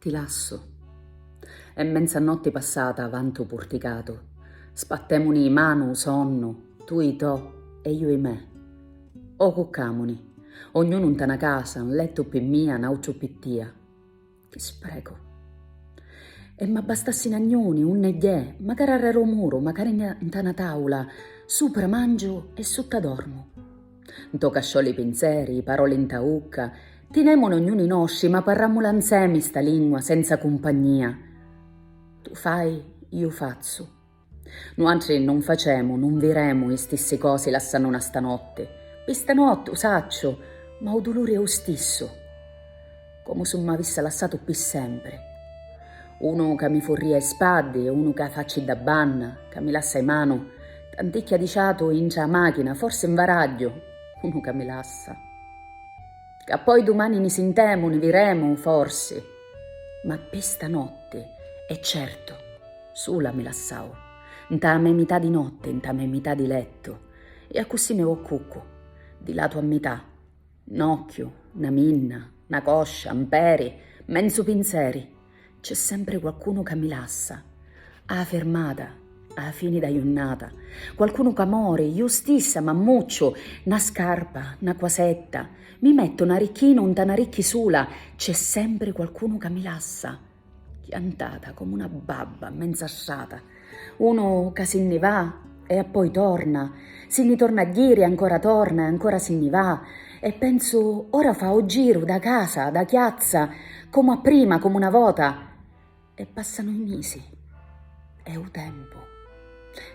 Ti lassu. È mmenza notti passata avanti 'u purticatu. Spattèmuni 'i manu 'u sonnu, tu 'i to e iu 'i me. O cuccàmuni. Ognunu 'nta 'na casa, 'n lettu pi mia, 'n àutru pi tia. Chi sprecu! E m'abbastassi 'n agnuni, unni gghiè, macari arrer'u muru, macari 'nta 'na tàula, supra mangiu e sutta dormu. Nto casciò li pinzeri, i paroli nta ucca, tinèmunu ognuni nostri ma parràmmula nzemi sta lingua senza cumpagnia. Tu fai, iu fazzu. Nuatri nun facemu, nun viremu i stissi cosi lassannuna stanotti. Pi stanotti, u sacciu, ma u duluri è u stissu. Comu si m'avisse lassatu pi sempri. Unu ca mi furria i spaddi e unu ca facci da banna, ca mi lassa i manu, tanticchia di ciatu intra a machina, forsi nvaragghiu, unu ca mi lassa. Ca poi dumani ni sintemu, ni viremu, forsi. Ma pi stanotti, è certu, sula mi lassau, nta a me mità di notti, nta a me mità di lettu, e accussì mi voccuccu, di latu a mità. N'occhiu, na minna, na coscia, 'n peri, menzu pinzeri, c'è sempri qualcunu ca mi lassa. A 'a firmata, a 'a fini d'a junnata, qualcunu ca mori, ju stissa m'ammucciu, na scarpa, na quasetta, mi mettu n'aricchinu 'nta n'aricchi sula, c'è sempri qualcunu ca mi lassa. Chiantata comu una babba, menza assata. Unu ca si nni va e appoi torna, si nni torna a jiri e ancora torna e ancora si nni va e pensu ora fa u jiru da casa, da chiazza, comu a prima, comu na vota. E passanu i misi. E u tempu.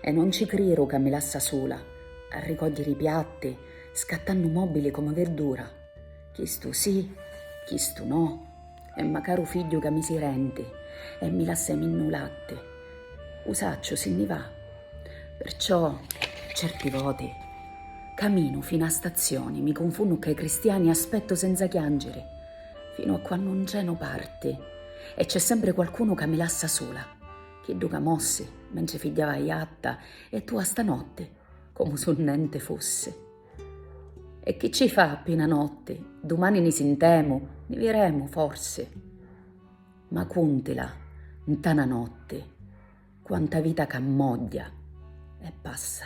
E non ci criru ca mi lassa sula, a ricogghiri i piatti, scattannu mobili comu verdura. Chistu si, chistu no, E ma caru figghiu ca mi si renti e mi lasse minnu latti, u sacciu si nni va. Perciò certi voti caminu fina a stazioni, mi cunfunnu cca i cristiani e aspettu senza chiangiri finu a quannu ncenu parti e c'è sempre qualcunu ca mi lassa sula, chiddu ca mossi mentri figghiava a jatta e tu a stanotti comu su nenti fussi. E chi ci fa pi na notti, dumani ni sintemu, ni viremu, forsi. Ma cuntila, nta na notti, quanta vita c'ammogghia e passa.